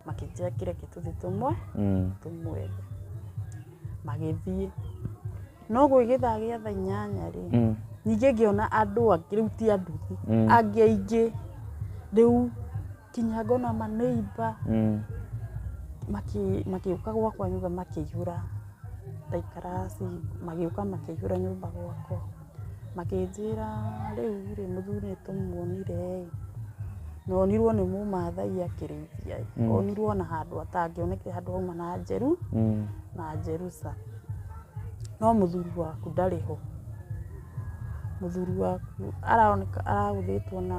makĩnjĩra kĩ reke tũthiĩ tũmwe Mm. tũmwethe magĩthiĩ no gwĩgĩthaa gĩa thaa inyanya rĩ Mm. ningĩ ngĩona andũ angĩ rĩu ti anduthi Mm. angĩ aingĩ rĩu kinya ngona maneiba Mm. maki- magĩũka gwakwa nyũmba makĩihũra ndaikara ci magĩũka makĩihũra nyũmba gwakwa Makĩnjĩra rĩu rĩ mũthuri nĩ tũmuonire ĩ, na onirwo nĩ mũmathai akĩrĩithia ĩ, onirwo na handũ atangĩonekire handũ hauma na njeru na njeruca. No mũthuri waku ndarĩ ho, mũthuri waku aroneka aragũthĩtwo na...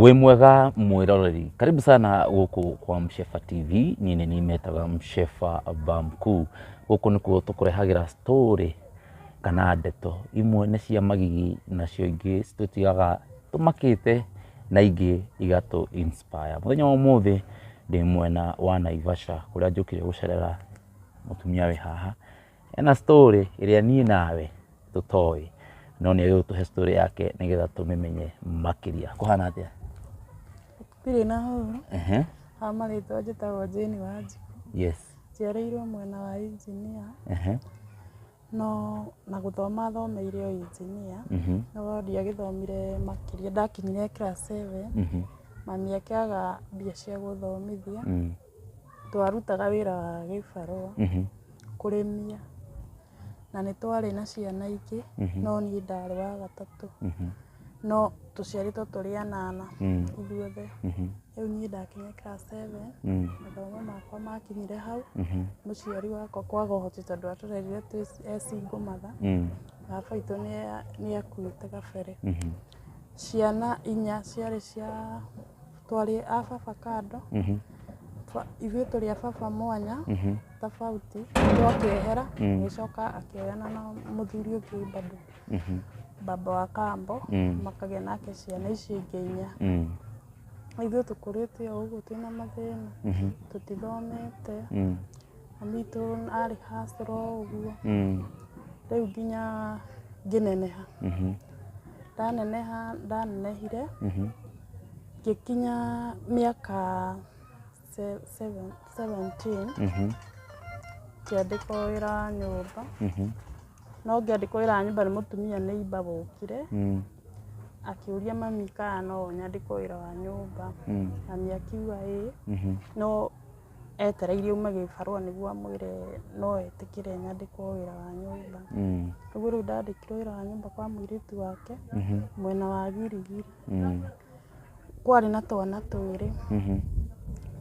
Wĩ mwega mwĩroreri, karibu sana gũkũ kwa Mshefa TV, niĩ nĩ niĩ metaga Mshefa Bamkuu. Gũkũ nĩkuo tũkũrehagĩra story kana ndeto, imwe nĩ cia magigi nacio ingĩ citũtigaga tũmakĩte na ingĩ igatũ inspire. Mũthenya wa ũmũthĩ ndĩ mwena wa Naivasha kũrĩa njũkire gũcerera mũtumia wĩ haha, Ena story ĩrĩa niĩ nawe tũtoĩ, no nĩ agĩrĩirwo tũhe story yake nĩgetha tũmĩmenye makĩria. Kũhana atĩa? Ndirĩ na hũra. Ehe. Ha marĩtwa njĩtagwo Jane Wanjikũ. Yes. Njiarĩirwo mwena wa Engineer. Ehe. No na gũthoma thomeire o Engineer. Mhm. No ndiagĩthomire makĩria ndakinyire class seven. Mhm. Mami akĩaga mbia cia gũthomithia. Mm. Twarutaga wĩra wa gĩbarũa, kũrĩmia, na nĩ twarĩ na ciana ingĩ, no niĩ ndarĩ wa gatatũ. No tũciarĩtwo tũrĩ anana ithuothe. Rĩu niĩ ndakinyire class seven, mathomo makwa makinyire hau, mũciari wakwa kwaga ũhoti tondũ atũrerire twĩ e single mother. Baba witũ nĩ akuĩte kabere. Ciana inya ciarĩ cia... twarĩ a baba kando Mhm. Twa- ithuĩ tũrĩ a baba mwanya Mhm. tofauti ũndũ akĩehera Mm. agĩcoka akĩoyana na mũthuri ũngĩ bado Mhm. baba wa kambo Mm. makagĩa nake ciana icio ingĩ inya Mm. ithuĩ tũkũrĩte o ũguo twĩna mathĩna Mhm. tũtithomete Mm. Maitũ arĩ hustler o ũguo. Mm. Rĩu nginya ngĩneneha. Mhm. Ndaneneha ndanenehire Mhm. ngĩkinya mĩaka se- seven- 17 Mhm. ngĩandĩkwo wĩra wa nyũmba. Mhm. No ngĩandĩkwo wĩra wa nyũmba nĩ mũtumia neighbor wokire Mm. akĩũria mami kana no nyandĩkwo wĩra wa nyũmba. Mm. Mami akiuga ĩĩ. Mhm. No etereire ume gĩbarũa nĩguo amwĩre no etĩkĩre nyandĩkwo wĩra wa nyũmba. Mm. Ũguo rĩu ndandĩkirwo wĩra wa nyũmba kwa mũirĩtu wake Mhm. mwena wa Girigiri. Mm. Kwarĩ na twana twĩrĩ, Mhm.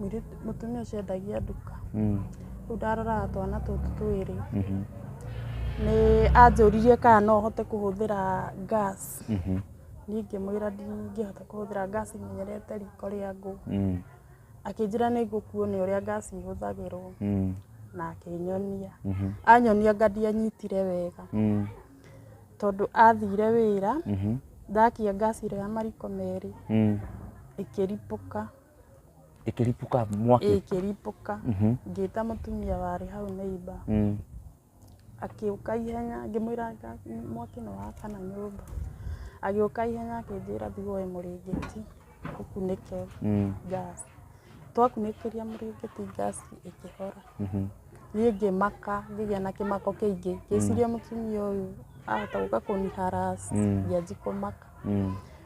mũirĩtu- mũtumia ũcio endagia nduka. Mm. Rĩu ndaroraga twana tũtũ twĩrĩ, Mhm. nĩ anjũririe kana no hote kũhũthĩra gas. Mhm. Niĩ ngĩmwĩra ndingĩhota kũhũthĩra gas menyerete riko rĩa ngũ. Mm. Akĩnjĩra nĩ ngũkuonia ũrĩa ngaci ihũthagĩrwo mm. na akĩnyonia mm -hmm. anyonia ngandi anyitire wega mm. tondũ athire wĩra mm -hmm. ndakia ngaci rĩa mariko merĩ mm. ĩkĩripũka ĩkĩripũka mwaki ĩkĩripũka mm -hmm. ngĩta mũtumia warĩ hau neiba mm. Agĩũka ihenya ngĩmwĩra mwaki nĩ wakana nyũmba. Agĩũka ihenya akĩnjĩra thiĩ woe mũrĩngĩti ũkunĩke gas. Twakunĩkĩria mũrĩngĩti gas ĩkĩhora. Niĩ ngĩmaka ngĩgĩa na kĩmako kĩingĩ ngĩciria mũtumia ũyũ ahota gũka kũni harass ngĩanji kũmaka.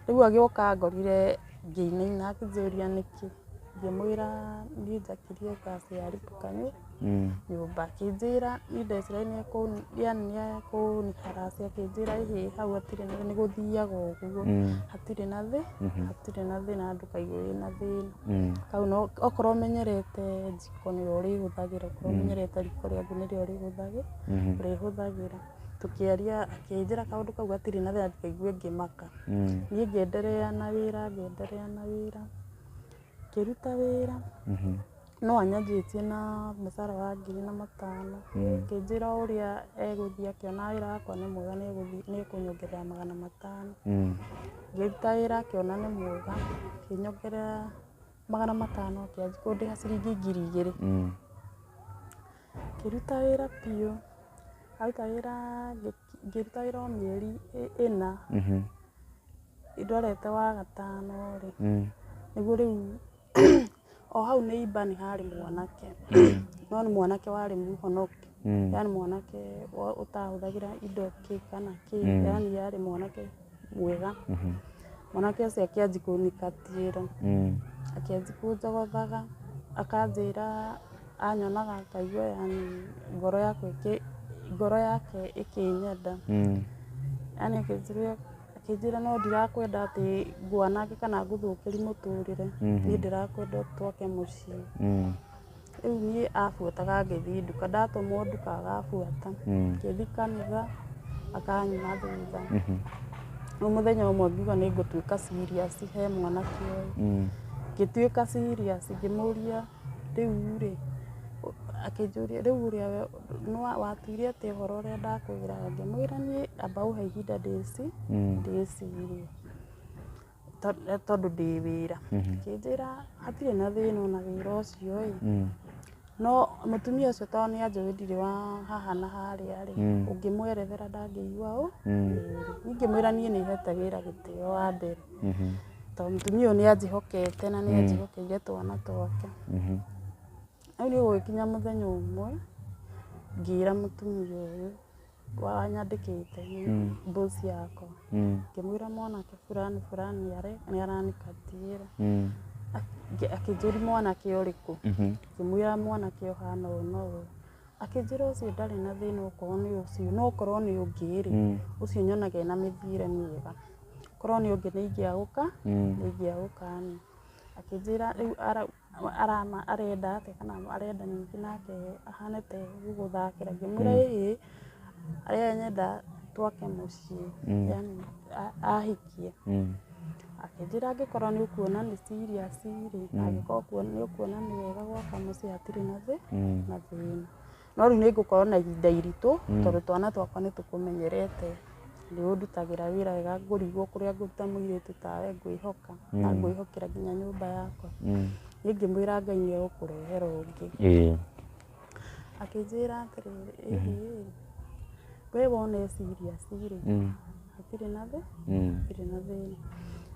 Rĩu agĩũka angorire ngĩinaina akĩnjũria nĩkĩ ngĩmwĩra niĩ njakĩrie gas yarĩ tukanu. nyũmba akĩnjĩra niĩ ndeciragia nĩ ekũnjĩra nĩ ekũniharacia akĩnjĩra ĩhĩ hau hatirĩ na thĩna nĩ gũthiaga ũguo hatirĩ na thĩ hatirĩ na thĩna ndũkaigue wĩna thĩna hau no okorwo ũmenyerete njiko nĩyo ũrĩhũthagĩra okorwo ũmenyerete riko rĩaku nĩrĩo ũrĩhũthagĩra ũrĩhũthagĩra tũkĩaria akĩnjĩra kaũndũ kau gatirĩ na thĩna ndũkaigue ngĩmaka niĩ ngĩenderea na wĩra ngĩenderea na wĩra ngĩruta wĩra No anyanjĩtie na mũcara wa ngiri na matano, akĩnjĩra o ũrĩa egũthiĩ akĩona wĩra wakwa nĩ mwega nĩ egũthiĩ nĩ ekũnyongerera magana matano. Ngĩruta wĩra akĩona nĩ mwega akĩnyongerera magana matano akĩanjia kũndĩha ciringi ngiri igĩrĩ. Ngĩruta wĩra biũ, ndaruta wĩra ngĩruta wĩra o mĩeri ĩna, ndwarĩte wa gatano rĩ, nĩguo rĩu O hau nĩ imba nĩ harĩ mwanake, no nĩ mwanake warĩ mũhonoku, yani mwanake ũtahũthagĩra indo kĩ kana kĩ, yani arĩ mwanake mwega. Mwanake ũcio akĩanjia kũnyingatĩra, akĩanjia kũnjogothaga, akanjĩra anyonaga akaigua yani ngoro yakwa ĩkĩ, ngoro yake ĩkĩnyenda. Akĩnjĩra no ndirakwenda atĩ ngwanange kana ngũthũkĩri mũtũrĩre, niĩ ndĩrakwenda twake mũciĩ. Rĩu niĩ abuataga ngĩthiĩ nduka, ndatũmwo nduka agabuata, ngĩthiĩ kanitha akanyima thutha. Rĩu mũthenya ũmwe ngiuga nĩ ngũtuĩka serious he mwanake ũyũ, ngĩtuĩka serious ngĩmũria rĩu rĩ, akĩnjũria rĩu ũrĩa Nĩ wa- watuire atĩ ũhoro ũrĩa ndakwĩra ngĩmwĩra niĩ amba ũhe ihinda ndĩci ndĩcirie To- eh, tondũ ndĩ wĩra kĩnjĩra hatirĩ na thĩna ona wĩra ũcio ĩ no mũtumia ũcio tondũ nĩ anjũĩ ndirĩ wa haha na harĩa rĩ ũngĩmwerethera ndangĩigua ũ ingĩmwĩra niĩ nĩ hete wĩra gĩtĩo wa mbere tondũ mũtumia ũyũ nĩ anjĩhokete na nĩ anjĩhokeire twana twake Rĩu nĩ gũgĩkinya mũthenya ũmwe ngĩra mũtumia ũyũ wanyandĩkĩte boss yakwa ngĩmwĩra mwanake burani burani nĩ aranikatia akĩnjũria mwanake ũrĩkũ ngĩmwĩra mwanake ũhana ũũ na ũũ akĩnjĩra ũcio ndarĩ na thĩna okorwo nĩ ũcio no okorwo nĩ ũngĩ rĩ ũcio nyonaga ena mĩthiĩre mĩega korwo nĩ ũngĩ nĩ ingĩagũka nĩ ingĩagũka niĩ akĩnjĩra rĩu ara arenda atĩa kana arenda ningĩ nake ahane ta ye gũgũthakĩra ngĩmwĩra ĩĩ harĩa nyenda twake mũciĩ yaani ahikie. Akĩnjĩra angĩkorwo nĩ ũkuona nĩ serious rĩ na angĩkorwo nĩ ũkuona nĩ wega gwaka mũciĩ hatirĩ na thĩna. no rĩu nĩ ngũkorwo na ihinda iritũ mm. tondũ twana twakwa nĩ tũkũmenyerete nĩ ũndutagĩra wĩra wega ngũrigwo kũrĩa ngũruta mũirĩtu tawe ngwĩhoka mm. na ngwĩhokera nginya nyũmba yakwa mm. nĩ ngĩmwĩra ngai nĩ egũkũrehera ũngĩ akĩnjĩra atĩrĩrĩ mm-hmm. we wona eciria cirĩ hatirĩ na thĩ Mm. hatirĩ na thĩna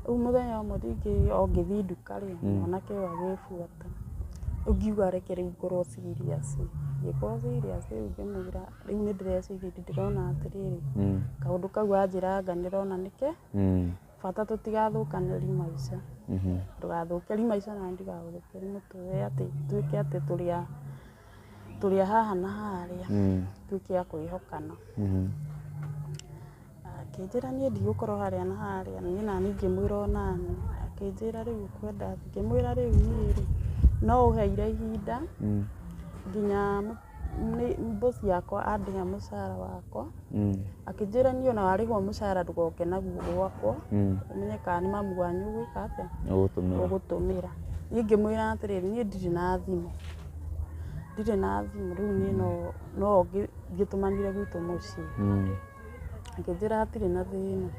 rĩu mũthenya ũmwe rĩngĩ o ngĩthiĩ nduka rĩ mwanake ũyũ agĩbuata rĩu ngiuga reke rĩu ngorwo serious ngĩkorwo serious rĩu ngĩmwĩra rĩu nĩ ndĩreciria ĩndĩ ndĩrona atĩrĩrĩ Mm. kaũndũ kau anjĩranga ndĩrona nĩke Mm. bata tũtigathũkanĩri maica Mhm. ndũgathũkĩri maica na ndigagũthũkĩri mũtũrĩre atĩ tuĩke atĩ tũrĩa tũrĩ a haha na harĩa tuĩke a kwĩhokana. Akĩnjĩra niĩ ndigũkorwo harĩa na harĩa niĩ naniĩ ngĩmwĩra o naniĩ. Akĩnjĩra rĩu ũkwenda atĩa? Ngĩmwĩra rĩu niĩ rĩ, no ũheire ihinda nginya boss yakwa andĩhe mũcara wakwa. Akĩnjĩra niĩ ona warĩhwo mũcara ndũgoke naguo gwakwa ũmenye kana nĩ mamu wanyu ũgwĩka atĩa? Ũgũtũmĩra. Niĩ ngĩmwĩra atĩrĩrĩ niĩ ndirĩ na thimũ. Ndirĩ na thimũ rĩu niĩ no no ngĩtũmanire gwitũ mũciĩ. Mm. Akĩnjĩra hatirĩ na thĩna.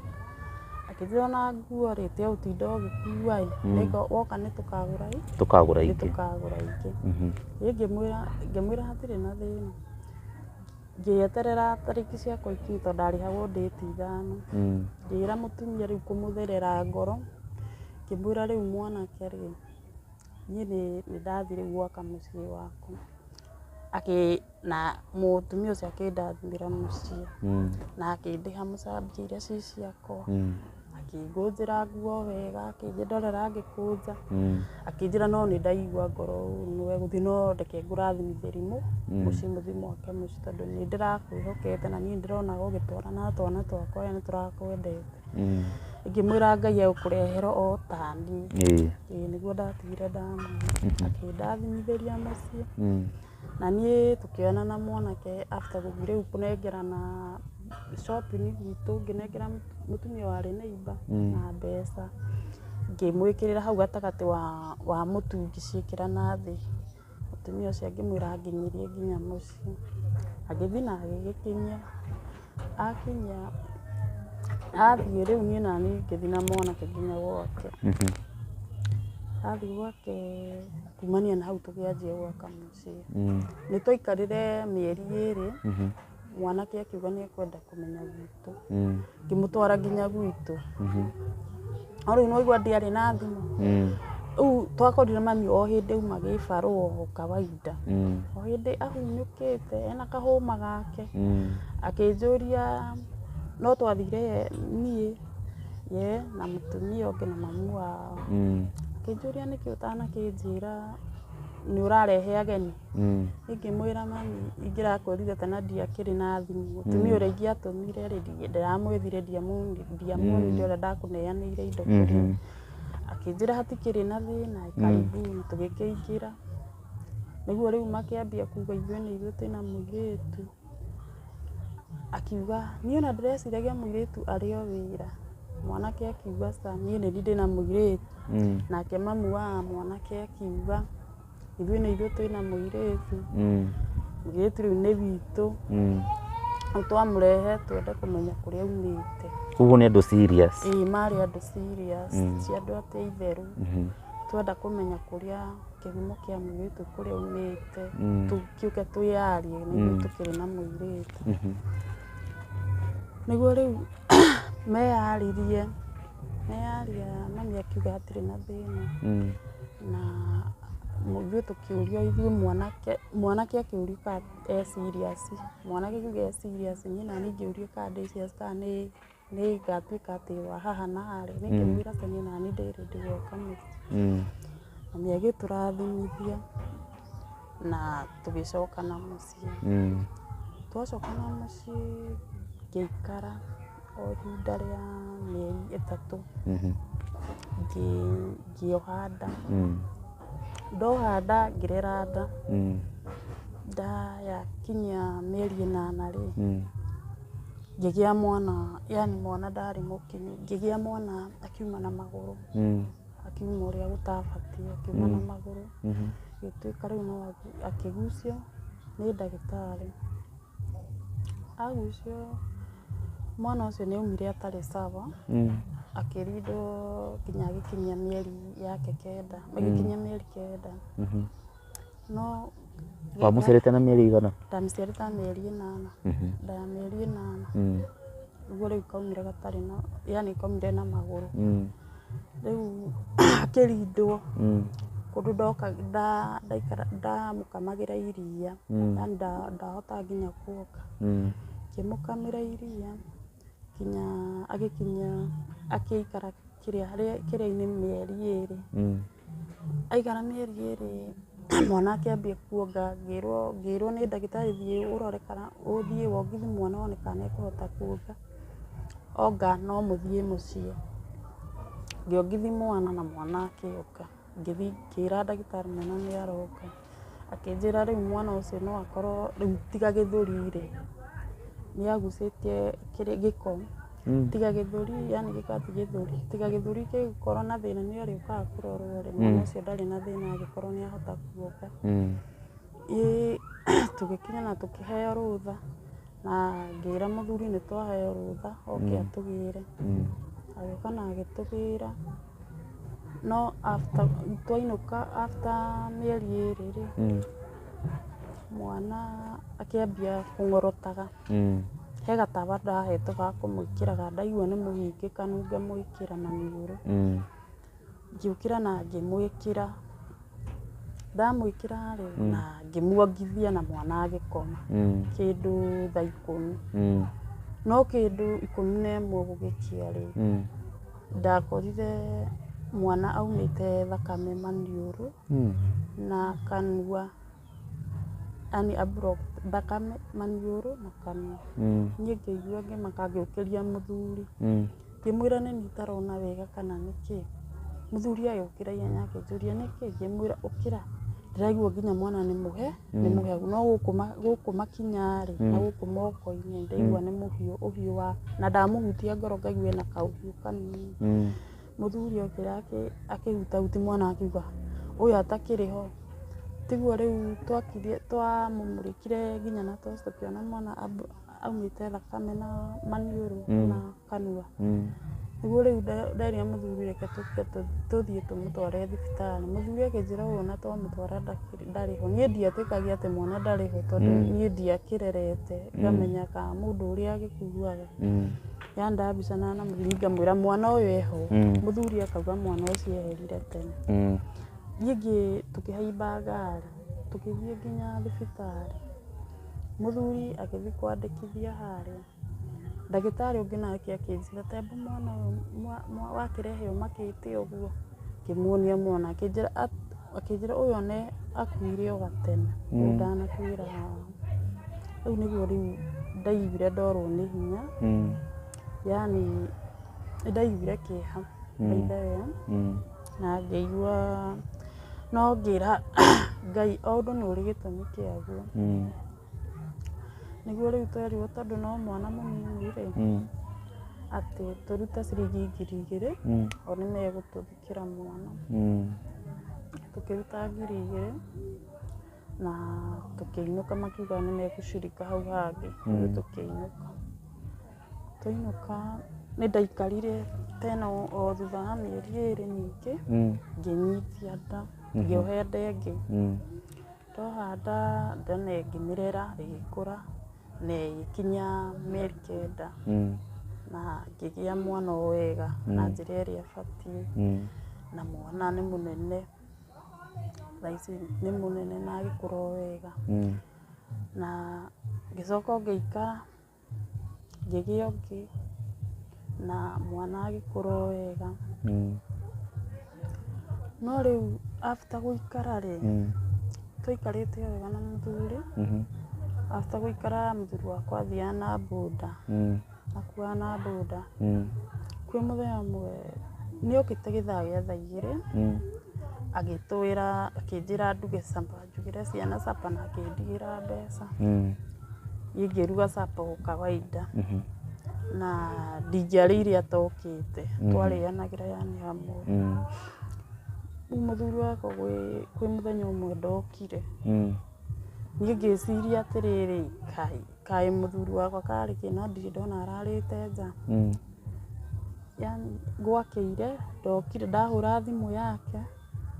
Akĩnjĩra ona nguo rĩ tiga gũtinda ũgĩkua ĩ. Nĩko woka nĩ tũkagũra ĩ. Tũkagũra Nĩ ingĩ. tũkagũra ingĩ. Mhm. Niĩ ngĩmwĩra ngĩmwĩra hatirĩ na thĩna. Ngĩeterera tarĩki ciakwa ikinye tondũ ndarĩhagwo ndĩti ithano. Mm. Ngĩra mũtumia rĩu kũmũtherera ngoro ngĩmwĩra rĩu mwanake rĩ. Niĩ nĩ ndathire gwaka mũciĩ wakwa na mũtumia ũcio akĩndathimĩra mũciĩ na akĩndĩha mũcambio iria ciĩ ciakwa. Akĩngũnjĩra nguo wega, akĩndorera ngĩkũnja, akĩnjĩra no nĩ ndaigua ngoro ũru we gũthiĩ no reke ngũrathimithĩrie mũciĩ mũthiĩ mwake mũciĩ tondũ nĩ ndĩrakwĩhokete na nĩ ndĩronaga ũgĩtwarana na twana twakwa wee nĩ tũrakwendete. Mm. ngĩmwĩra ngai egũkũrehera o tani Ĩĩ. ĩĩ nĩguo ndatigire ndamwona Mhm. akĩndathimithĩria mũciĩ Mm. na niĩ tũkĩoyana na mwanake after gũthiĩ rĩu kũnengerana shopping gwitũ ngĩnengera mũtumia warĩ neiba Mm. na mbeca ngĩmwĩkĩrĩra hau gatagatĩ wa, wa mũtu ngĩciĩkĩra na thĩ Mũtumia ũcio ngĩmwĩra anginyirie nginya mũciĩ. Agĩthiĩ na agĩgĩkinyia. Akinyia, athiĩ rĩu niĩ nani ngĩthiĩ na mwanake nginya gwake. Athiĩ gwake kumania na hau tũkĩanjia gwaka mũciĩ. Nĩ twaikarire mĩeri ĩrĩ, mwanake akiuga nĩ ekwenda kũmenya gwitũ. gwitũ Mm. ngĩmũtwara nginya gwitũ Mhm. no rĩu nĩwaigua ndiarĩ na thimũ Mm. rĩu twakorire mami o hĩndĩ auma gĩbarũ o kawaida Mm. o hĩndĩ ahunyũkĩte ena kahũma gake Mm. akĩnjũria no twathire niĩ ye na mũtumia ũngĩ na mamu wao Mm. akĩnjũria nĩkĩ ũtanakĩnjĩra nĩ ũrarehe ageni Ingĩmwĩra mami ingĩrakũrire kana ndiakĩrĩ na thimũ, mũtumia ũrĩa ingĩatũmire rĩ, ndĩramwethire ndiamuonire ũrĩa ndakũneanĩire indo kũrĩa. Akĩnjĩra hatikĩrĩ na thĩna karibuni, tũgĩkĩingĩra. Nĩguo rĩu makĩambia kuga ithuĩ nĩ ithuĩ twĩna mũirĩtu. Akiuga niĩ ona ndĩreciragia mũirĩtu arĩ o wĩra. Mwanake akiuga aca niĩ nĩ niĩ ndĩna mũirĩtu. Nake mamu wa mwanake akiuga. Ithuĩ nĩ ithuĩ twĩna mũirĩtu, mũirĩtu rĩu nĩ witũ, rĩu twamũrehe twende kũmenya kũrĩa aumĩte. Ũguo nĩ andũ serious? Ĩĩ marĩ andũ serious, ti andũ atĩ a itherũ. Twenda kũmenya kũrĩa kĩhumo kĩa mũirĩtu kũrĩa aumĩte, tũke twĩyarie nĩ ithuĩ tũkĩrĩ na mũirĩtu. Nĩguo rĩu meyaririe, meyaria mami akiuga hatirĩ na thĩna. Na ithuĩ tũkĩũrio ithuĩ mwanake, mwanake akĩũrio kana e serious, mwanake akiuga e serious niĩ naniĩ ngĩũrio kana ndĩ serious kana nĩ nĩ ngatuĩka atĩ wa haha na harĩa. Niĩ ngĩmwĩra atĩ niĩ naniĩ ndĩ ready gwaka mũciĩ. Na nĩ agĩtũrathimithia na tũgĩcoka na mũciĩ. mũciĩ. Twacoka na mũciĩ ngĩikara o ihinda rĩa mĩeri ĩtatũ ngĩoha nda. Ndoha nda ngĩrera nda, nda yakinyia mĩeri ĩnana rĩ, ngĩgĩa mwana yaani mwana ndarĩ mũkinyu. Ngĩgĩa mwana akiuma na magũrũ. akiuma ũrĩa gũtabatiĩ akiuma na magũrũ gĩtuĩka rĩu no akĩgucio nĩ ndagĩtarĩ agucio mwana ũcio nĩ aumire atarĩ sawa akĩrindwo nginya agĩkinyia mĩeri yake kenda agĩkinyia mĩeri kenda. No wamũcerete na mĩeri ĩigana? ndamĩciarĩte ta mĩeri ĩnana nda ya mĩeri ĩnana Mm. nĩguo rĩu kaumire gatarĩ na yani kaumire na magũrũ Mm. rĩu akĩrindwo Mm. kũndũ ndoka nda- ndaikara ndamũkamagĩra iria Mm. yani nda- ndahota nginya kuoka Mm. ngĩmũkamĩra iria nginya agĩkinyia agĩikara kĩrĩainĩ mĩeri ĩrĩ aikara mĩeri ĩrĩ mwana akĩambia kuonga ngĩrwo nĩ ndagĩtarĩ thiĩ ũrore kana ũthiĩ wongithie mwana wone kana nĩ ekũhota kuonga onga no mũthiĩ mũciĩ ngĩongithia mwana na mwana akĩonga. Ngĩthiĩ ngĩra ndagĩtarĩ mwana nĩ aroka, akĩnjĩra rĩu mwana ũcio no akorwo rĩu tiga gĩthũri rĩ, nĩ agucĩtie kĩrĩa gĩko, tiga gĩthũri yani gĩko ti gĩthũri, tiga gĩthũri gĩgũkorwo na thĩna nĩ arĩũkaga kũrorwo rĩ, mwana ũcio ndarĩ na thĩna agĩkorwo nĩ ahota guoka. Ĩĩ tũgĩkinya na tũkĩheo rũtha na ngĩra mũthuri nĩ twaheo rũtha oke atũgĩre, agĩũka na agĩtũgĩra. No after twainũka after mĩeri ĩrĩ rĩ, Mm. mwana akĩambia kũng'orotaga. Mm. He gatawa ndahetwo ga kũmwĩkĩraga, ndaigua nĩ mũhingĩkanu ngamwĩkĩra maniũrũ. Mm. Ngĩũkĩra na ngĩmwĩkĩra, ndamwĩkĩra rĩ, na ngĩmuongithia na mwana agĩkoma Mm. kĩndũ thaa ikũmi. Mm. No kĩndũ ikũmi na ĩmwe gũgĩkĩa rĩ, Mm. Ndakorire mwana aumĩte thakame maniũrũ na kanua, yaani a block thakame maniũrũ na kanua. Niĩ ngĩigua ngĩmaka ngĩũkĩria mũthuri ngĩmwĩra nĩ niĩ itarona wega kana nĩ kĩ. Mũthuri agĩũkĩra ihenya akĩnjũria nĩ kĩ, ngĩmwĩra ũkĩra ndĩraigua nginya mwana nĩ mũhe. nĩ mũhehu no gũkũ ma- gũkũ makinya-rĩ na gũkũ moko-inĩ ndaigua nĩ mũhiũ ũhiũ wa na ndamũhutia ngoro ngaigua ena kaũhiũ kanini Mm. mũthuri okĩra akĩ- akĩhutahuti mwana akiuga ũyũ atakĩrĩ ho tiguo rĩu twakirie twamũmũrĩkire nginya na toci tũkĩona mwana ab- aumĩte thakame na maniũrũ na kanua Mm. nĩguo rĩu nda- nderia mũthuri reke tũke tũ- tũthiĩ tũmũtware thibitarĩ mũthuri akĩnjĩra ũũ na twamũtwara ndakĩrĩ- ndarĩ ho niĩ ndiatĩkagia atĩ mwana ndarĩ ho tondũ Mm. niĩ ndiakĩrerete ngamenya ka mũndũ ũrĩa agĩkuaga Mm. yandaa mbica na namũthuri ngamwĩra mwana ũyũ eho Mm. mũthuri akauga mwana ũcio eherire tene Mm. niĩ ngĩ tũkĩhaimba ngari tũkĩthiĩ nginya thibitarĩ mũthuri agĩthiĩ kwandĩkithia harĩa Ndagĩtarĩ ũngĩ nake akĩnjĩra temba mwana ũyũ wakĩrehe ũmakĩte ũguo. Ngĩmuonia mwana akĩnjĩra ũyũ one akuire o gatene ũyũ ndanakuĩra haha. Rĩu nĩguo rĩu ndaiguire ndorwo nĩ hinya yaani nĩ ndaiguire kĩeha by the way na ngĩigua no ngĩra Ngai o ũndũ nĩ ũrĩ gĩtũmi kĩaguo. Nĩguo rĩu twerirwo tondũ no mwana mũnini rĩ, atĩ tũrute ciringi ngiri igĩrĩ o nĩ megũtũthikĩra mwana. Tũkĩruta ngiri igĩrĩ na tũkĩinũka makiuga nĩ megũcirika hau hangĩ ithuĩ tũkĩinũka. Twainũka nĩ ndaikarire tena o thutha wa mĩeri ĩrĩ ningĩ ngĩnyitia nda ngĩoha ĩrĩa ĩngĩ. Twahanda then ĩkĩmerera ĩgĩkũra na ĩgĩkinya mĩeri kenda na ngĩgĩa mwana o wega na njĩra ĩrĩa ĩbatiĩ na mwana nĩ mũnene thaa ici nĩ mũnene na agĩkũra o wega na ngĩcoka o ngĩikara. ngĩgĩa ũngĩ na mwana agĩkũra o wega. No rĩu after gũikara rĩ, twaikarĩte o wega na mũthuri, after gũikara mũthuri wakwa athiaga na boda, akuaga na boda. Kwĩ mũthenya ũmwe, nĩ okĩte gĩthaa gĩa thaa igĩrĩ agĩtwĩra, akĩnjĩra nduge supper. Ndugĩre ciana supper na akĩndigĩra mbeca. Ingĩruga supper o kawaida na ndingĩarĩire atokĩte, twarĩanagĩra yani hamwe. Rĩu mũthuri wakwa kwĩ mũthenya ũmwe ndokire, niĩ ngĩciria atĩrĩrĩ, Ngai, kaĩ mũthuri wakwa karĩ kĩ no ndirĩ ndona ararĩte nja. Yani gwakĩire ndokire ndahũra thimũ yake.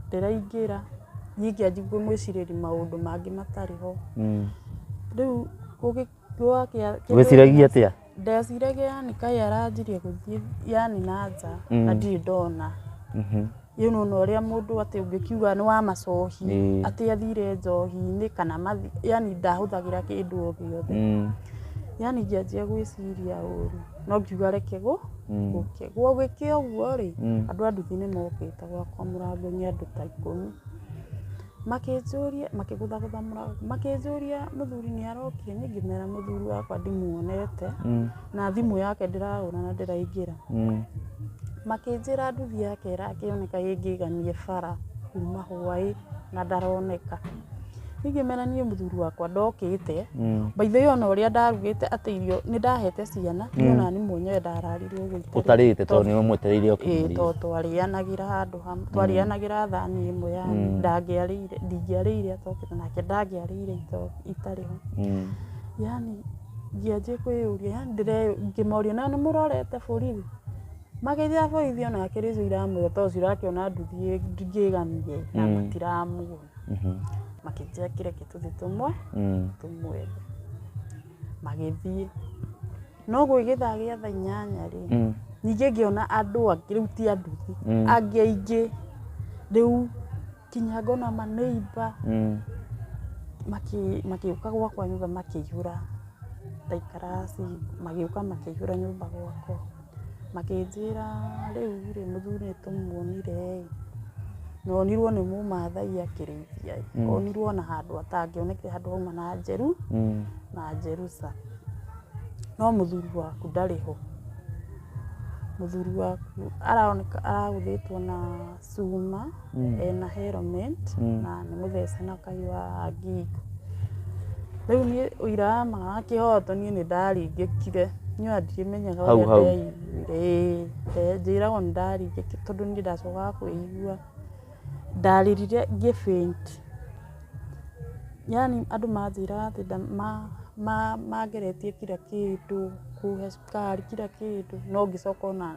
ndĩraingĩra niĩ ngĩanjia kũmwĩcirĩria maũndũ mangĩ matarĩ ho. Rĩu gwakĩa. Wĩciragia atĩa? Ndeciragia yani kaĩ aranjirie gũthiĩ yani na nja na ndirĩ ndona. Rĩu nĩ wona ũrĩa mũndũ atĩ ũngĩkiuga nĩ wa macohi atĩ athire njohi-inĩ kana yani ndahũthagĩra kĩndũ o gĩothe. Yani ngĩanjia gwĩciria ũru. No ngiuga reke gũ, Mm. gũke. Gwagĩke ũguo-rĩ, Mm. andũ a nduthi nĩ mokĩte gwakwa mũrango nĩ andũ ta ikũmi. Makĩnjũria, makĩgũthagũtha mũrango, makĩnjũria mũthuri nĩ arokire, niĩ ngĩmera mũthuri wakwa ndimuonete, Mm. na thimũ yake ndĩrahũra na ndĩraingĩra. Mm. Makĩnjĩra nduthi yake ĩrakĩoneka ĩngĩgamie bara kuma hwaĩ na ndaroneka. Ingĩmera niĩ mũthuri wakwa ndokĩte, by the way ona ũrĩa ndarugĩte atĩ irio nĩ ndahete ciana, niĩ ona niĩ mwenyewe ndararire ũguo itarĩ- Ũtarĩte tondũ nĩ ũmwetereire oke Ĩĩ, mũrĩe. tondũ twarĩanagĩra handũ hamwe twarĩanagĩra thani ĩmwe ya ndangĩarĩire ndingĩarĩire atokĩte nake ndangĩarĩire ito- itarĩ ho Mm. yani ngĩanjia kwĩyũria yani ndĩre- ngĩmoria na nĩ mũrorete borithi magĩthiaga borithi onake rĩu iramwĩra tondũ cirakĩona nduthi ĩ- ngĩgamie na matiramuona makĩnjĩra kĩreke tũthiĩ tũmwe tũmwethe magĩthiĩ no gũgĩthaa gĩa thaa inyanya rĩ ningĩ ngĩona andũ angĩ rĩu ti anduthi angĩ aingĩ rĩu kinya ngona ma neighbor magĩũka gwakwa nyũmba makĩihũra ndaikara magĩũka makĩihũra nyũmba gwakwa. Makĩnjĩra rĩu rĩ mũthuri nĩ tũmuonire ĩ, na onirwo nĩ mũmathai akĩrĩithia ĩ, onirwo na handũ atangĩonekire handũ hauma na njeru na njeruca. No mũthuri waku ndarĩ ho, mũthuri waku aroneka aragũthĩtwo na... cuma ena helmet na nĩ mũthece na kahiũ ga ngingo. Rĩu niĩ ũira wa ma wa kĩhoto niĩ nĩ ndaringĩkire niĩ ona ndikĩmenyaga ũrĩa ndeiguire. Ĩĩ njĩragwo nĩ ndaringĩkire tondũ niĩ ndacokaga kwĩigua. Ndarĩrire ngĩ faint yaani andũ manjĩraga atĩ mangeretie kira kĩndũ, kũhe cukari kira kĩndũ no ngĩcoka ona...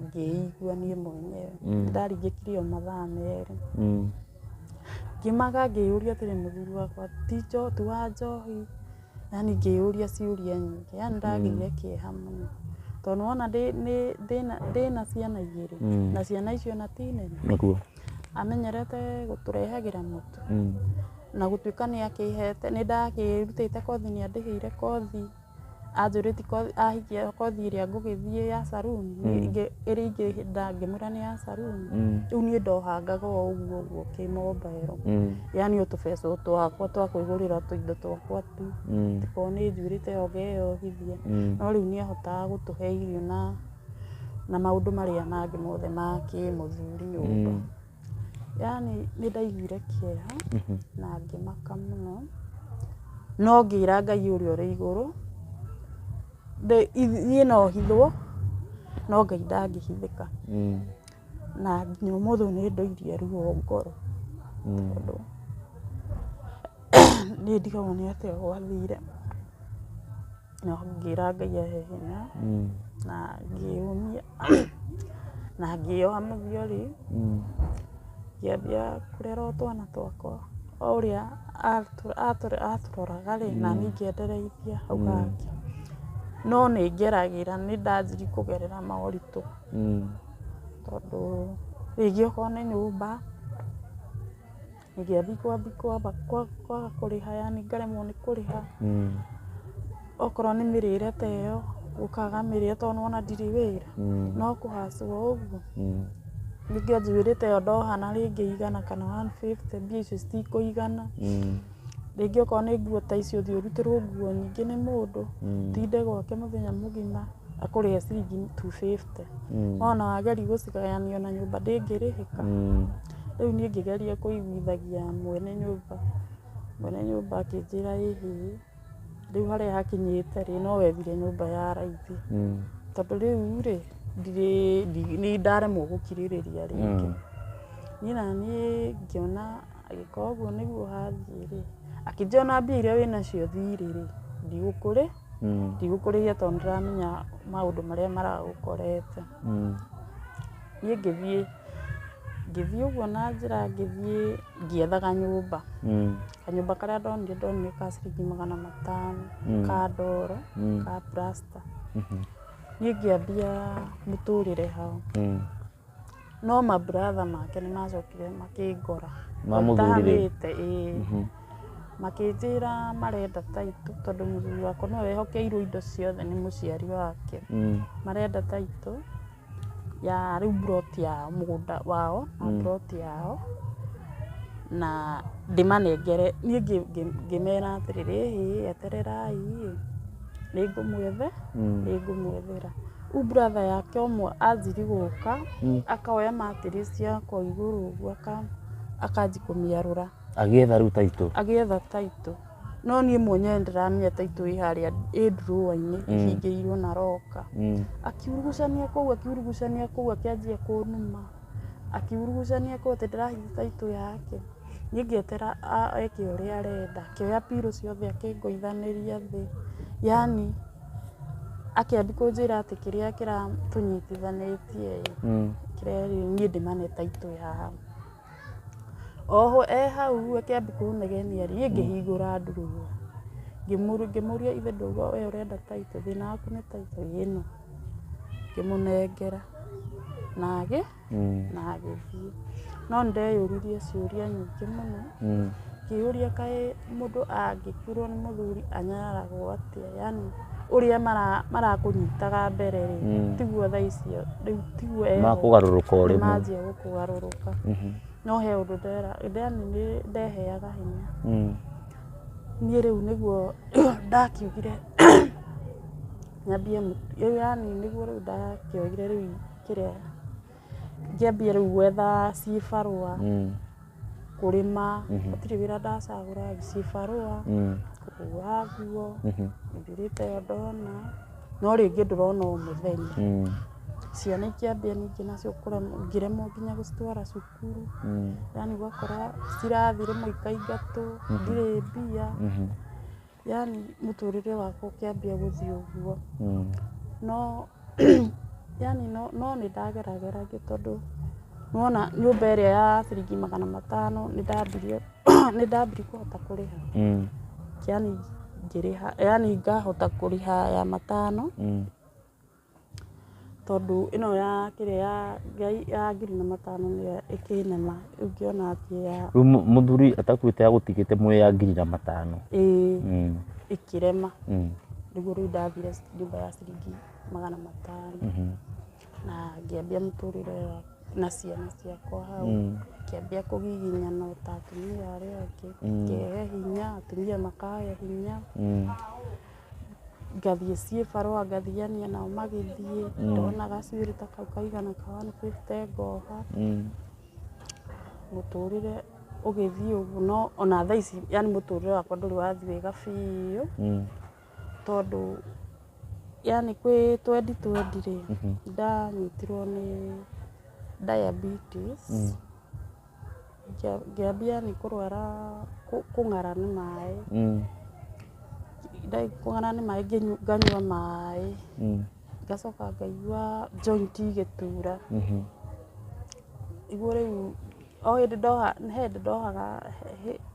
ngĩigua niĩ mwenyewe ndaringĩkire o mathaa merĩ. Ngimaga ngĩyũria atĩrĩ mũthuri wakwa ti wa njohi? Yaani ngĩyũria ciũria nyingĩ. Yaani nĩ ndagĩire kĩeha mũno. Tondũ nĩ wona ndĩna ciana igĩrĩ na ciana icio ona ti nene. Amenyerete gũtũrehagĩra mũtu na gũtuĩka nĩ akĩhete, nĩ ndakĩrutĩte kothi nĩ andĩhĩire kothi. anjũrĩtie kothi ahingia kothi ĩrĩa ngũgĩthiĩ ya saruni ĩrĩa ingĩhĩnda ngĩmwĩra nĩ ya saruni rĩu niĩ ndohangaga o ũguo ũguo kĩ mobile yani o tũbeca o twakwa twa kwĩgũrĩra tũindo twakwa tu angĩkorwo nĩ njurĩte o ngeyohithia no rĩu nĩ ahotaga gũtũhe irio na na maũndũ marĩa mangĩ mothe ma kĩmũthuri nyũmba. Yaani nĩ ndaiguire kĩeha na ngĩmaka mũno, no ngĩra Ngai ũrĩa ũrĩ igũrũ, niĩ no hithwo no Ngai ndangĩhithĩka. Na nginya ũmũthĩ nĩ ndoirie ruo ngoro tondũ nĩ ndigagwo nĩ atĩa gwathire. No ngĩra Ngai ahe hinya na ngĩyũmia na ngĩyoha mũthia rĩ, ngĩambia kũrera o twana twakwa. O ũrĩa atũroraga rĩ, naniĩ ngĩendereithia hau hangĩ. No nĩ ngeragĩra, nĩ ndanjirie kũgerera moritũ tondũ rĩngĩ okorwo nĩ nyũmba... ngĩathiĩ kwambia kwamba kwa- kwaga kũrĩha yani ngaremwo nĩ kũrĩha Mm. okorwo nĩ mĩrĩre ta ĩyo gũkaga mĩrĩre tondũ nĩwona ndirĩ wĩra Mm. no kũhacwo ũguo Mm. ningĩ njuĩrĩ ta ĩyo ndohana rĩngĩ igana kana 150 mbia icio citikũigana Mm. rĩngĩ okorwo nĩ nguo ta icio thiĩ ũrutĩrwo nguo nyingĩ nĩ mũndũ Mm. tinde gwake mũthenya mũgima akũrĩhe ciringi 250 Mm. ona wageri gũcigayania ona nyũmba ndĩngĩrĩhĩka Mm. Rĩu niĩ ngĩgeria kũiguithagia mwene nyũmba, mwene nyũmba akĩnjĩra ĩ hĩ, rĩu harĩa hakinyĩte rĩ, no wethire nyũmba ya raithi. Tondũ rĩu rĩ, ndirĩ, nĩ ndaremwo gũkirĩrĩria rĩngĩ. Niĩ na niĩ ngĩona agĩkorwo ũguo nĩguo hathiĩ rĩ, akĩnjĩra ona mbia irĩa wĩ nacio thirĩ rĩ, ndigũkũrĩ, ndigũkũrĩhia tondũ nĩ ndĩramenya maũndũ marĩa maragũkorete. Niĩ ngĩthiĩ, ngĩthiĩ ũguo na njĩra ngĩthiĩ ngĩethaga nyũmba. Kanyũmba karĩa ndonire ndonire ka ciringi magana matano ka ndoro ka plaster. Niĩ ngĩambia mũtũrĩre hau. No ma brother make nĩ macokire makĩngora. Mamũthurire? Ĩĩ. Makĩnjĩra marenda title tondũ mũthuri wakwa nĩwe wehokeirwo indo ciothe nĩ mũciari wake. Marenda title. ya rĩu mburoti ya mũgũnda wao na mburoti yao na ndĩmanengere. Niĩ ngĩmera atĩrĩrĩ, ĩhĩ etererai ĩ nĩ ngũmwethe, nĩ ngũmwethera. Rĩu brother yake ũmwe anjĩrĩ gũka, akoya materials yakwa igũrũ ũguo akanjia kũmĩarũra. Agĩetha rĩu taitũ. agĩetha taitũ no niĩ mwenyewe ndĩramenya taitũ ĩ harĩa ĩ ndurũwa-inĩ ĩhingĩirwo na roka Mm. akiurugucania kũu akiurugucania kũu akĩanjia kũnuma akiurugucania kũu atĩ ndĩrahitha taitũ yake niĩ ngĩetera a- eke ũrĩa arenda akĩoya pirũ ciothe akĩngũithanĩria thĩ yani akĩambi kũnjĩra atĩ kĩrĩa kĩratũnyitithanĩtie ĩ, Mm. kĩrĩa niĩ ndĩmane taitũ ya Oho e hau ũguo akĩambia kũnegenia rĩ, niĩ ngĩhingũra ndurũmu ngĩmũria ithe ndũgũ we ũrenda taito, thĩna waku nĩ taito? Ĩĩ ĩno. Ngĩmũnengera na agĩthiĩ. No nĩ ndeyũririe ciũria nyingĩ mũno. Ngĩyũria kaĩ mũndũ angĩkuĩrwo nĩ mũthuri anyararagwo atĩa? Yaani ũrĩa marakũnyitaga mbere rĩ, mm. tiguo thaa icio, rĩu tiguo eho. Makũgarũrũka o rĩmwe. Manjia gũkũgarũrũka. Mhm. No he ũndũ ndera, ndani nĩ ndeheaga hinya. Mm. Niĩ rĩu nĩguo ndakiugire nyambie, rĩu yani nĩguo rĩu ndakĩoigire rĩu kĩrĩa Ngĩambia rĩu gwetha cibarũa, kũrĩma, gũtirĩ wĩra ndacagũra, cibarũa, kũhũra nguo, nĩndĩrĩte ĩyo ndona, no rĩngĩ ndũrona o mũthenya. Ciana ikĩambia ningĩ nacio kũremwo, ngĩremwo nginya gũcitwara cukuru, yaani ũgakora citirathiĩ rĩmwe ikaingatwo, ndirĩ mbia. Yaani mũtũrĩre wakwa ũkĩambia gũthiĩ ũguo, no yaani no no nĩ ndagerageragia tondũ nĩ wona nyũmba ĩrĩa ya ciringi magana matano nĩ ndambirie nĩ ndambirie kũhota kũrĩha yaani ngĩrĩha yaani ngahota kũrĩha ya matano. Tondũ ĩno ya kĩrĩa ya ngai ya ngiri na matano nĩyo ĩkĩnema ĩngĩona atĩ ya. Rĩu mũthuri atakuĩte agũtigĩte mwĩ ya ngiri na matano. Ĩĩ mm. ĩkĩrema mm. nĩguo rĩu ndathire nyũmba ya ciringi magana matano mm-hmm. na ngĩambia mũtũrĩre na ciana ciakwa hau mm. kĩambia kũgiginya na ta atumia arĩa angĩ mm. kĩhe hinya atumia makahe hinya mm. ngathiĩ ciĩ barũa ngathiania nao magĩthiĩ ndona gacuĩrĩ ta kau kaigana ka 150 ngoha Mm. mũtũrĩre ũgĩthiĩ ũguo no ona thaa ici yani mũtũrĩre wakwa ndũrĩ wathiĩ wega biũ Mm. tondũ yani kwĩ twendi twendi rĩ ndanyitirwo nĩ diabetes Ngĩambia nĩ kũrwara kũng'ara nĩ maĩ, kũng'ara nĩ maĩ nganyua maĩ, ngacoka ngaigua joint igĩtura. Nĩguo rĩu o hĩndĩ ndoha, he hĩndĩ ndohaga,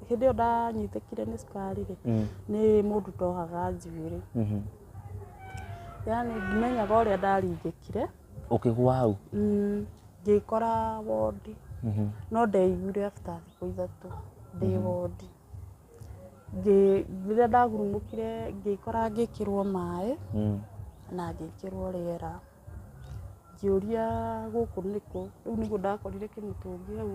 hĩndĩ ĩyo ndanyitĩkire nĩ cukari rĩ, nĩ mũndũ ndohaga njuĩrĩ. Yaani ndimenyaga ũrĩa ndaringĩkire. Ũkĩgwa hau? Mm, ngĩkora wondi Mhm. no ndeiguire after thikũ ithatũ ndĩ wondi Ngĩ- rĩrĩa ndagurumũkire ngĩkora ngĩkĩrwo maĩ Mm. na ngĩkĩrwo rĩera ngĩũria gũkũ nĩkũ rĩu nĩguo ndakorire kĩmũtũngi hau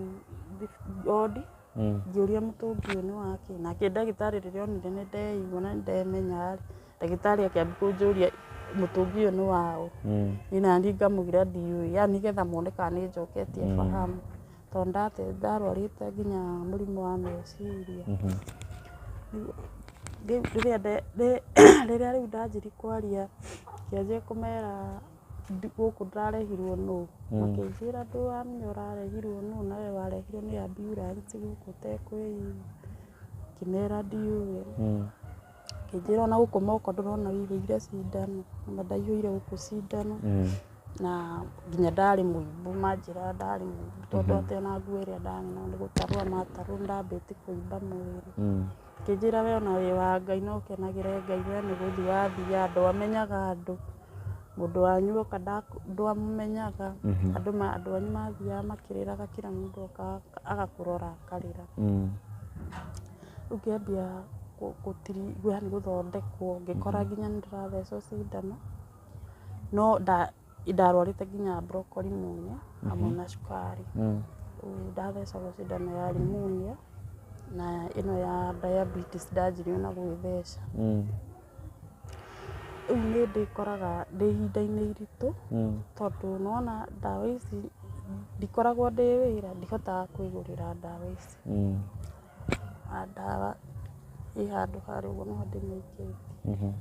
thif- wondi Mm. ngĩũria mũtũngi ũyũ nĩ wakĩ nake ndagĩtarĩ rĩrĩa onire nĩ ndeigua na nĩ ndemenya rĩ Ndagĩtarĩ akĩambia kũnjũria mũtũngi ũyũ nĩ waũ, niĩ nani ngamũgira ndiũĩ, yaani nĩgetha mone kana nĩ njoketie fahamu. Tondũ nĩ ndate nĩ ndarwarĩte nginya mũrimũ wa meciria. Rĩu rĩrĩa nde nde rĩrĩa rĩu ndanjirie kwaria ngĩanjia kũmera gũkũ ndĩrarehirwo nũũ? Makĩnjĩra ndũramenya ũrarehirwo nũũ nawe warehirwo nĩ ambulance gũkũ ũtekwĩigua. Ngĩmera ndiũĩ. Akĩnjĩra ona gũkũ moko ndũrona ũihũire cindano, na ndaihũire gũkũ cindano, na nginya ndarĩ mũimbu manjĩra ndarĩ mũimbu tondũ atĩ ona nguo ĩrĩa ndarĩ nayo nĩ gũtarwo amatarwo nĩ ndambĩtie kũimba mwĩrĩ. Akĩnjĩra we ona wĩ wa Ngai na ũkenagĩre Ngai we nĩ gũthiĩ wathiaga ndwamenyaga andũ, mũndũ wanyu oka ndwamũmenyaga, andũ anyu mathiaga makĩrĩraga kira mũndũ okaga agakũrora akarĩra. Rĩu ngĩambia gũthondekwo ngĩkora nginya nĩ ndĩrathecwo cindano, no ndarwarĩte nginya broccoli mũno hamwe na cukari. Rĩu ndathecagwo cindano ya pneumonia na ĩno ya diabetes ndanjirie ona gwĩtheca. Rĩu nĩ ndĩkoraga ndĩ ihinda-inĩ iritũ tondũ nĩ wona ndawa ici ndikoragwo ndĩ wĩra ndihotaga kwĩgũrĩra ndawa ici. na ndawa ĩ handũ harĩa ũguo no ndĩmĩkĩrĩrie.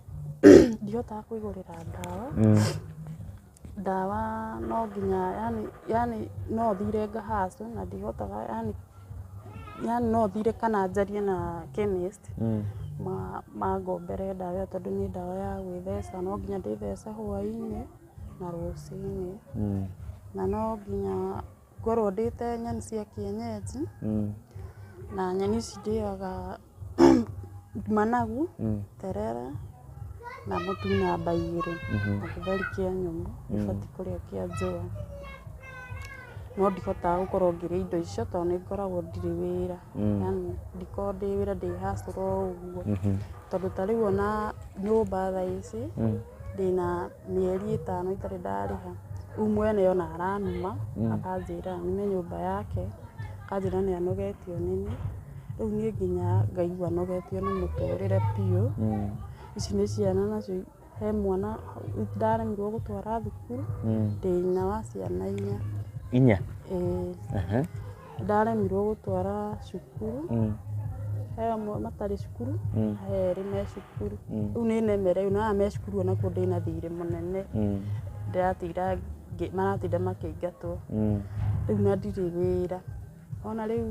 Ndihotaga kũigũrĩra ndawa, ndawa no nginya yani yani no thiire ngahaicwo na ndihotaga yani yani no thiire kana njarie na chemist mangombere ndawa ĩyo tondũ nĩ ndawa ya gwĩtheca. No nginya ndĩthece hwainĩ na rũcinĩ. Na no nginya Ngorwo ndĩĩte nyeni cia kĩenyenji, na nyeni ici ndĩaga managu, terere, na mũtu na mbaigĩrĩ, na gĩtheri kĩa nyũmũ, ndibatiĩ kũrĩa kĩa njũa. No ndihotaga gũkorwo ngĩrĩa indo icio tondũ nĩ ngoragwo ndirĩ wĩra. Yaani ndikoragwo ndĩ wĩra ndĩ hustle o ũguo. Tondũ ta rĩu ona nyũmba thaa ici, ndĩna mĩeri ĩtano itarĩ ndarĩha rĩu mwene ona aranuma akanjĩra nime nyũmba yake akanjĩra nĩ anogetio nĩ niĩ rĩu niĩ nginya ngaigua nogetio nĩ mũtũrĩre biũ ici nĩ ciana nacio he mwana ndaremirwo gũtwara thukuru ndĩna wa ciana inya inya? ĩĩ Ehe. Ndaremirwo gũtwara cukuru, he amwe matarĩ cukuru, he erĩ me cukuru. Rĩu nĩ nemereirwo na aya me cukuru o nakuo ndĩ na thirĩ mũnene, ndĩratinda ngĩ- maratinda makĩingatwo. Rĩu na ndirĩ wĩra. Wona rĩu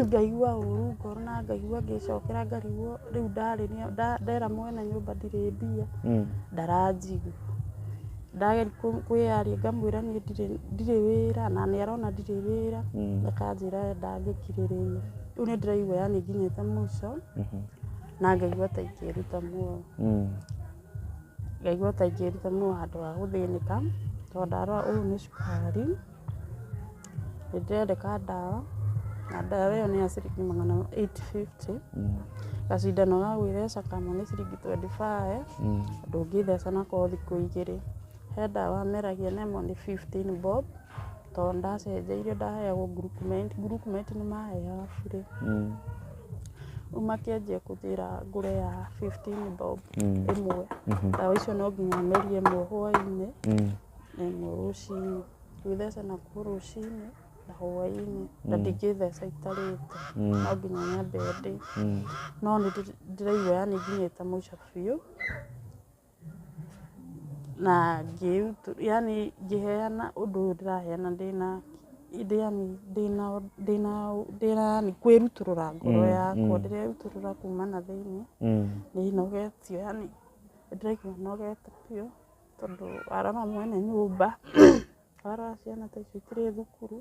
ngaigua ũru ngoro na ngaigua ngĩcokera ngarigwo rĩu ndarĩria- nda- ndera mwene nyũmba ndirĩ mbia, ndaranjigua. Ndageria kũ- kwĩyaria ngamwĩra niĩ ndirĩ- ndirĩ wĩra na nĩ arona ndirĩ wĩra akanjĩra we ndangĩkirĩrĩria rĩu nĩ ndĩraigua yani nginyĩte mũico na ngaigua ta ingĩruta muoyo Mm. ngaigua ta ingĩruta muoyo handũ ha gũthĩnĩka tondũ ndarora ũyũ nĩ cukari Nĩ ndĩrendeka ndawa, na ndawa ĩyo nĩ ya ciringi magana eight fifty. Gacindano ga gwĩtheca kamwe nĩ ciringi twenty five, ndũngĩtheca nako thikũ igĩrĩ. He ndawa meragia namo nĩ fifteen bob, to nĩ ndacenjeirio ndaheagwo Gurukumeti, Gurukumeti nĩ maheaga burĩ. Rĩu makĩanjia kũnjĩra ngũre ya fifteen bob ĩmwe. Ndawa icio no nginya merie ĩmwe hwainĩ. Ĩmwe rũcinĩ, gwĩtheca nakuo rũcinĩ na hwainĩ na ndingĩtheca itarĩte no nginya nyambe ndĩe. No nĩ ndĩraigua yani nginyĩte mũico biũ na yani ngĩheana ũndũ ũyũ ndĩraheana ndĩna yani ndĩna ndĩna ndĩna yani kwĩrutũrũra ngoro yakwa. Ndĩrerutũrũra kuma na thĩiniĩ, nĩnogetio yani nĩ ndĩraigua nogete biũ. tondũ warora mwene nyũmba, warora ciana ta ici itirĩ thukuru,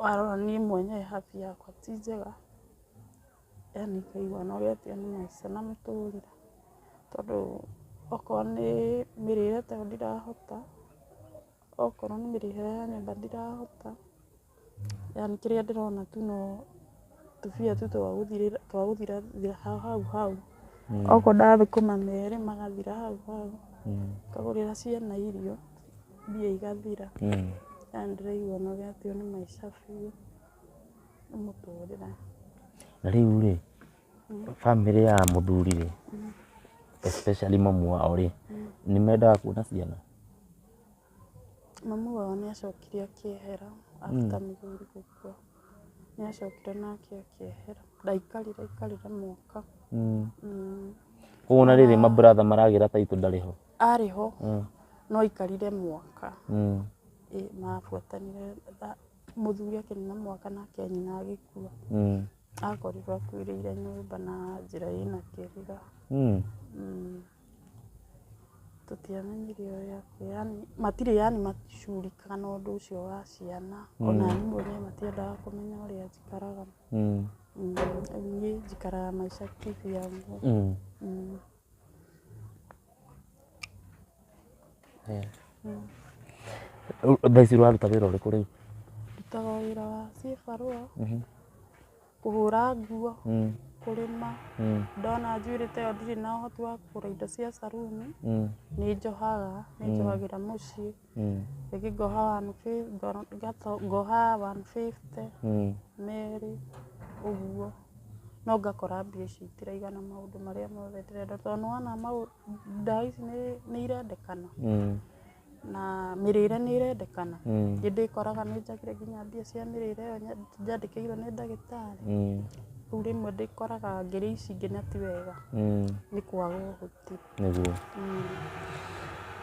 warora niĩ mwenyewe health yakwa ti njega, yaani ngaigua nogetio nĩ maica na mũtũrĩre, tondũ okorwo nĩ mĩrĩre tayo ndirahota. Okorwo nĩ mĩrĩhĩre ya nyũmba ndirahota, yani kĩrĩa ndĩrona tu no tũbia tu twa gũthirĩra twa gũthira thira ha hau hau. Okorwo ndathũkũma merĩ magathira hau hau. Ngagũrĩra ciana irio, mbia igathira. Yani ndĩraigua nogetio nĩ maica biũ nĩ mũtũrĩre. Na rĩu rĩ, Bamĩrĩ ya mũthuri rĩ, especially mamu wao rĩ, nĩ mendaga kuona ciana? Mamu wao nĩ acokire akĩehera after mũthuri gũkua. Nĩ acokire nake akĩehera. Ndaikarire aikarire mwaka. Koguo ona rĩrĩ ma brother maragĩra title ndarĩ ho? Arĩ ho, no aikarire mwaka. Ĩĩ mabuatanire, mũthuri akĩnina mwaka nake nyina agĩkua. Akorirwo akuĩrĩire nyũmba na njĩra ĩna kĩrira. Mm. Mm. Tũtiamenyire ũrĩa kwĩ, yani matirĩ yani macurikaga na ũndũ ũcio wa ciana. Ona niĩ mwene matiendaga kũmenya ũrĩa njikaraga. Mm. Mm. Rĩu niĩ njikaraga maica kĩvyangu. Mm. Mm. Rĩu thaa ici ũraruta wĩra ũrĩkũ rĩu? Ndutaga o wĩra wa cibarũa, kũhũra nguo, kũrĩma. Ndona njuĩrĩ ta ĩyo ndirĩ na ũhoti wa kũgũra indo cia caruni, nĩ njohaga, nĩ njohagĩra mũciĩ. mm. igi goha one fifty gono gato goha one fifty mm. meri uguo no ngakora mbia ici itiraigana maundu maria mothe ndirenda tondu nĩwona ndawa ici nĩ irendekana mm. na mĩrĩre nĩ ĩrendekana nĩ ndĩkoraga nĩ njagire nginya mbia cia mĩrĩre ĩyo njandĩkĩirwo nĩ ndagĩtarĩ rĩu rĩmwe ndĩkoraga ngĩrĩa ici ingĩ na ti wega nĩ kwaga ũhoti Nĩguo.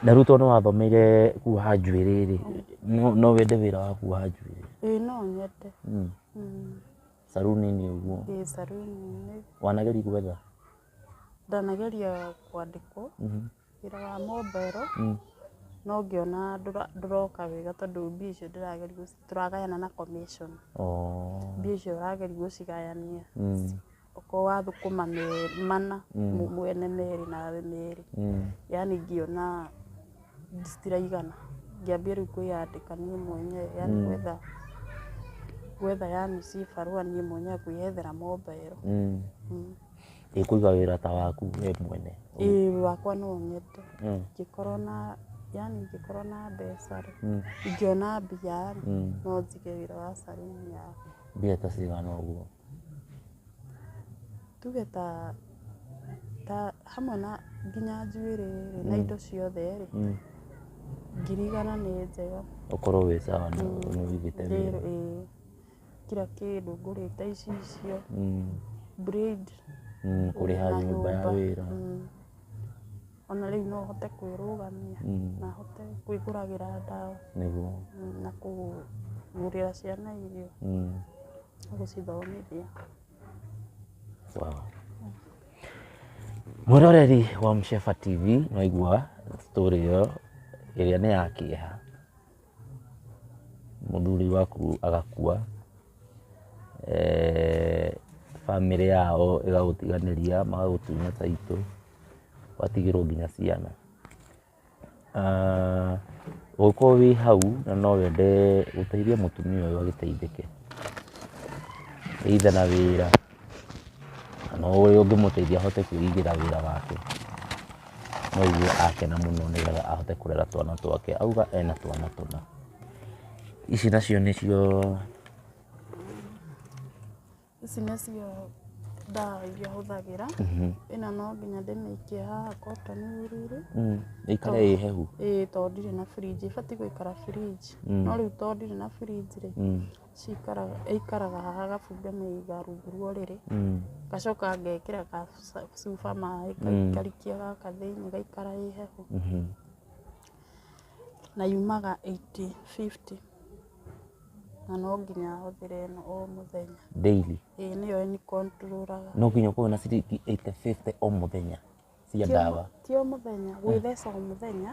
Ndarutwo nĩ wathomeire kuoha njuĩrĩ rĩ, no no wende wĩra wa kuoha njuĩrĩ? Ĩĩ no nyende. Mm. Mm. Saruni-inĩ ũguo. Ĩĩ saruni-inĩ. Wanageria gwetha? Ndanageria kwandĩkwo Mhm. wĩra wa mombero Mm. no ngĩona ndũra- ndũroka wega tondũ mbia icio ndĩrageria gũci- tũragayana na commission. Oh. Mbia icio ũrageria gũcigayania Mm. okorwo wa thũkũma merĩ mana mũ- mwene merĩ nawe merĩ yani ngĩona citiraigana ngĩambia rĩu kwĩyandĩka niĩ mwenyewe yani Mm. gwetha gwetha yani ci barũa niĩ mwenyewe kwĩyethera mombaero Mm. Mm. ĩkũiga wĩra ta waku we mwene ĩĩ wakwa no nyende Mm. ingĩkorwo na yani ingĩkorwo na mbeca rĩ Mm. ingĩona mbia rĩ Mm. no njige wĩra wa caruni ya mbia ta cigana ũguo Tuge ta ta hamwe na nginya njuĩrĩ rĩ na indo ciothe rĩ, ngiri igana nĩ njega. Ũkorwo wĩ sawa nĩ ũrutĩte wĩra. Ĩĩ kira kĩndũ ngũrĩte icicio, braid. Kũrĩha nyũmba ya wĩra. Ona rĩu no hote kwĩrũgamia na hote kwĩgũragĩra ndawa. Nĩguo. Na kũgũrĩra ciana irio. gũcithomithia. Mwĩroreri wa Msheba TV nĩ waigua story ĩyo ĩrĩa nĩ ya kĩeha, mũthuri waku agakua, eh, bamĩrĩ yao ĩgagũtiganĩria, magagũtunya taitũ, ũgatigĩrwo nginya ciana. Ũngĩkorwo wĩ hau na no wende gũteithia mũtumia ũyũ agĩteithĩke, either na wĩra kana ũrĩa ũngĩmũteithia ahote kwĩigĩra wĩra wake, no aigue akena mũno nĩ getha ahote kũrera twana twake. Auga ena twana tũna. Ici nacio nĩcio... Ici nĩcio ndawa iria hũthagĩra, ĩno no nginya ndĩmĩikie haha cotton wool -inĩ, ĩikare ĩ hehu. ĩĩ tondũ ndirĩ na fridge, ĩbatiĩ gũikara fridge, no rĩu tondũ ndirĩ na fridge rĩ, cikaraga, ĩikaraga haha arabu ngamĩiga rungu rwa ũrĩrĩ, ngacoka ngekĩra gacuba maĩ ngarikia gaka thĩiniĩ ĩgaikara ĩ hehu, na yumaga eighty fifty. Na no nginya hũthĩre ĩno o mũthenya. Daily? Ĩĩ nĩyo ĩni control aga. No nginya ũkorwo na ciringi eighty fifty o mũthenya cia ndawa? Ti o mũthenya, gwĩtheca o mũthenya,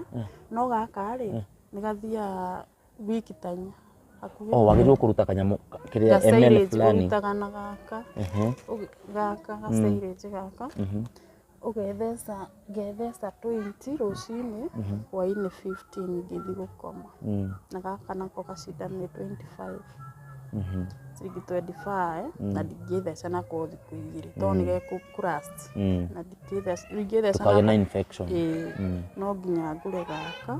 no gaka rĩ, nĩ gathiaga week ta inya. O wagĩrĩirwo kũruta kanyamũ kĩrĩa ml fulani? Ga silage ũrutaga na gaka, gaka ga silage gaka. Ũgetheca, ngetheca tũinti rũcinĩ, hwainĩ fifteen ngĩthiĩ gũkoma. Na gaka nako gacindano nĩ twenty five, ciringi twenty five, na ndingĩtheca nako thikũ igĩrĩ to nĩ gekũ kũ last. Na ndingĩtheca, ndingĩtheca nako. Kagĩe na infection. Ĩĩ, no nginya ngũre gaka.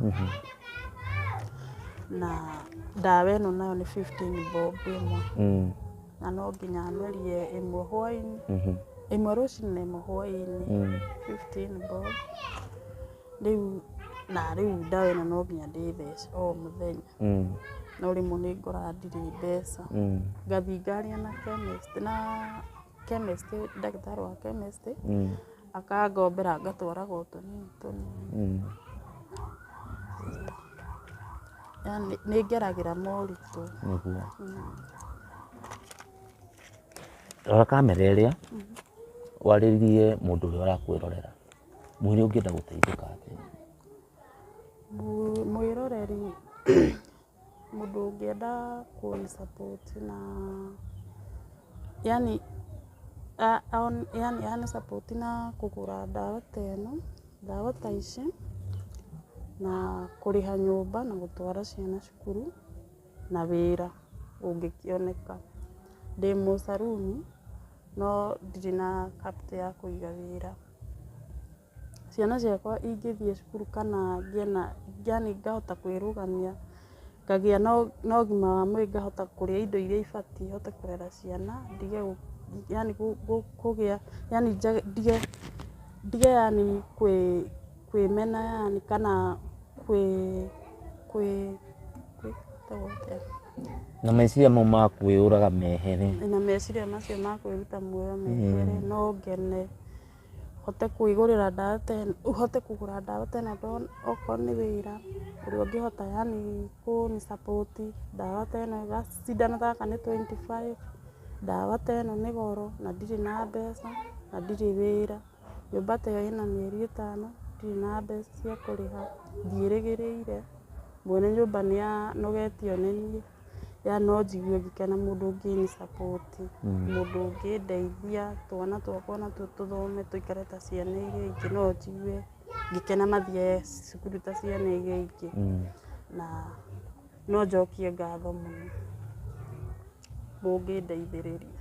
Na ndawa ĩno nayo nĩ fifteen bob ĩmwe. na no nginya merie ĩmwe hwainĩ Mhm. ĩmwe rũcinĩ na ĩmwe hwainĩ Mm. 15 bob rĩu na rĩu ndawa ĩno no nginya ndĩthece o mũthenya Mm. no rĩmwe nĩ ngoraga ndirĩ mbeca Mm. ngathiĩ ngaria na chemist na chemist ndagĩtarĩ wa chemist Mm. akangombera ngatwaraga o tũnini tũnini. Yaani nĩ ngeragĩra moritũ. Rora kamera ĩrĩa warĩrie mũndũ ũrĩa ũrakwĩrorera, mwĩre ũngĩenda gũteithĩka atĩa. Mwĩroreri. Mũndũ ũngĩenda kũĩ support na yaani ahane support na kũgũra ndawa ta ĩno, ndawa ta ici na kũrĩha nyũmba na gũtwara ciana cukuru na wĩra ũngĩkĩoneka. Ndĩ mũ saloon no ndirĩ na capital ya kũiga wĩra. Ciana ciakwa ingĩthiĩ cukuru kana ngĩe na, yaani ngahota kwĩrũgamia, ngagĩa na ũgima wa mwĩrĩ ngahota kũrĩa indo iria ibatiĩ hote kũrera ciana, ndige yaani kũgĩa, yaani ndige, ndige yaani kwĩmena yaani kana kwĩ, kwĩ, gwĩtagwo atĩa? Na meciria mau ma kwĩyũraga mehere. Na meciria macio ma kwĩruta muoyo mehere, no ngene. hote kwĩgũrĩra ndawa ta ĩno, hote kũgũra ndawa ta ĩno ndona okorwo nĩ wĩra ũrĩa ũngĩhota yani kũni support ndawa ta ĩno cindano ta gaka nĩ twenty five, ndawa ta ĩno nĩ goro na ndirĩ na mbeca na ndirĩ wĩra, nyũmba ta ĩyo ĩna mĩeri ĩtano ndirĩ na mbeca cia kũrĩha, ndiĩrĩgĩrĩire, mwene nyũmba nĩ anogetio nĩ niĩ. ya no njigue ngĩkena mũndũ ũngĩni support mũndũ ũngĩndeithia twana twakwa onatuo tũthome tũikare ta ciana iria ingĩ no njigue ngĩkena mathiĩ cukuru ta ciana iria ingĩ na no njokie ngatho mũno mũngĩndeithĩrĩria.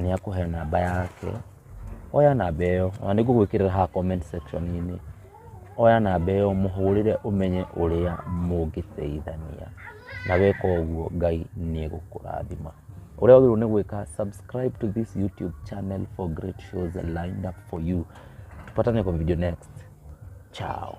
Nĩ akũhe namba yake, oya namba ĩyo, ona nĩ ngũgwĩkĩrĩra haha comment section -inĩ, oya namba ĩyo ũmũhũrĩre ũmenye ũrĩa mũngĩteithania, na weka ũguo Ngai nĩ egũkũrathima. Ũrĩa wagĩrĩirwo nĩ gwĩka subscribe to this YouTube channel for great shows lined up for you. Tupatane kwa video next. Ciao.